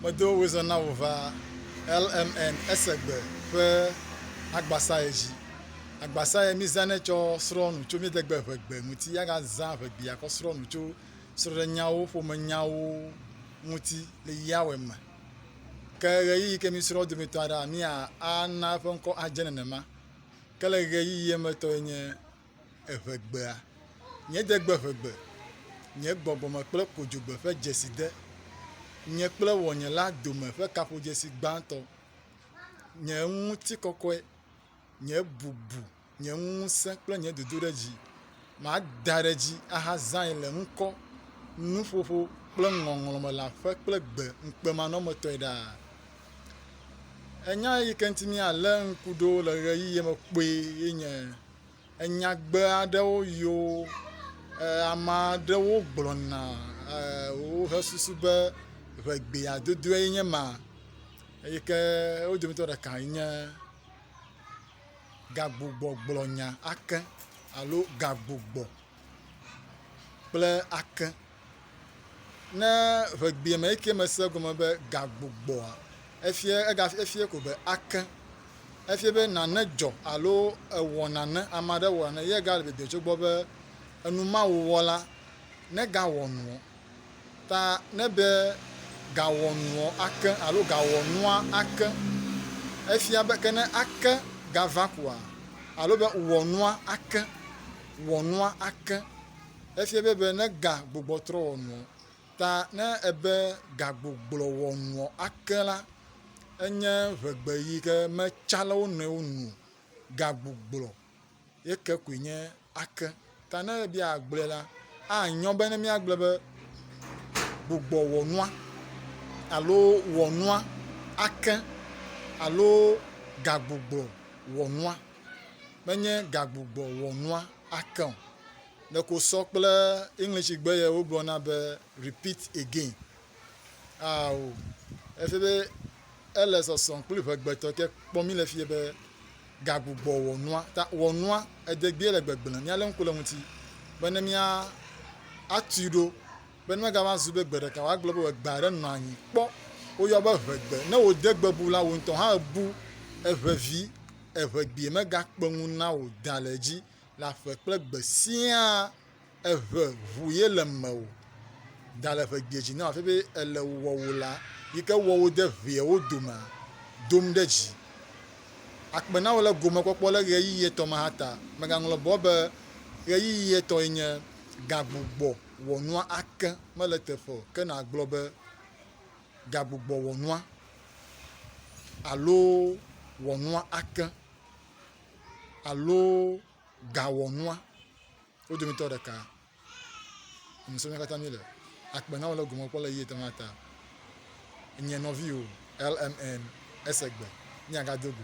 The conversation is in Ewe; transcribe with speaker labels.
Speaker 1: Medo wizã na wò va lmn ese gbe ƒe agbasaye dzi. Agbasaye mi zã nɛ tsɔ srɔ nu tso mi de gbe ʋe gbe ŋuti ya ga zã ʋe gbi ya kɔ srɔ nu tso srɔɖe nyawo ƒome nyawo ŋuti le ya wɛ me. Ke ɣeyiɣi ke mi srɔ dometɔ aɖe a mi a a na eƒe ŋkɔ a dze nenema. Ke le ɣeyiɣi ye me tɔ ye nye Eʋe gbea, nye degbe ʋe gbe, nye gbɔgbɔme kple kodzogbe ƒe dzeside, nye kple wɔnye la dome ƒe kaƒodzesi gbãtɔ, nye ŋutikɔkɔe, nye bubu, nye ŋusẽ kple nye dodoɖedzi. Mada ɖe dzi ahazãe le ŋkɔ, nuƒoƒo kple ŋɔŋlɔ me le aƒe kple gbe ŋukpemanɔmetɔe ɖaa. Enya eyi ke ŋuti míalé ŋku ɖo le ɣeyiɣi me kpɔe ye nye Enyagbe aɖewo yiwo ame aɖewo gblɔna wohe susu be ŋe gbea dodoe nye ma eyi ke wo dometɔ ɖeka enye gagbugbɔ gblɔ nya ake alo gagbugbɔ kple ake. Ne ŋegbea me eke mese egɔme be gagbugbɔa, efia ega efia ko be ake. Efia be nane dzɔ alo ewɔ nane ame aɖe wɔ nane ye gale dede tso egbɔ be enumawowɔ la negawɔ nuɔ. Ta ne be gawɔ nuɔ ake alo gawɔ nua ake. Efia be ke ne ake gava koa alo be wɔ nua ake wɔ nua ake. Efia be be ne ga gbogbɔtrɔ wɔnuɔ, ta ne ebe ga gbogblɔ wɔnuɔ ake la, enye ŋegbe yi ke me tsa le wo nɔewo nu o. Ga gbogblɔ ye ke koe nye ake. Ta ne ebe ya gblɔe la, a nyɔ be ne mía gblɔ be gbogbɔ wɔnua alo wɔnua ake alo ga gbogblɔ wɔnua. menye gagbugbɔ wɔnua ake o. Ɖeko wosɔ kple English gbe yɛ wogblɔna be repeat again. Ao, efie be ele sɔsɔ kple ŋegbetɔ ke kpɔ mí le fie be gagbugbɔ wɔnua. Ta wɔnua edegbeɛ le gbegblẽ. Míalé ŋku le eŋuti be ne mía atui ɖo Be megava zu be gbe ɖeka wòagblɔ be wòegbe aɖe nɔ anyi kpɔ. Woyɔ be ʋegbe. Ne wòde gbe bu la, wò ŋutɔ hã èbu eʋe vi, eʋe gbee. Megakpe ŋu na wò da le edzi le aƒe kple gbe siaa. Eʋe ʋu ye le mewò. Da le eʋe gbee dzi na wò hafi be èle wɔwò la yi ke wɔ wò de ʋeawo domea, dom ɖe dzi. Akpe na wò le gomekpɔkpɔ le ɣeyiɣi etɔ̃ ma hã ta. Mègaŋlɔ bɔ be ɣeyiɣi etɔ̃e nye gagbugbɔ wɔnua ake mele teƒe o, ke nàgblɔ be, Gagbugbɔ wɔnua alo Wɔnua ake alo Gawɔnua, wo dometɔ ɖeka. Ŋusẽ mía katã míele. Akpe na wò le gome kpɔ le ɣeyiɣi etɔ̃ ma ta. Nye nɔviwò, LMN, ese gbe. Míagado go.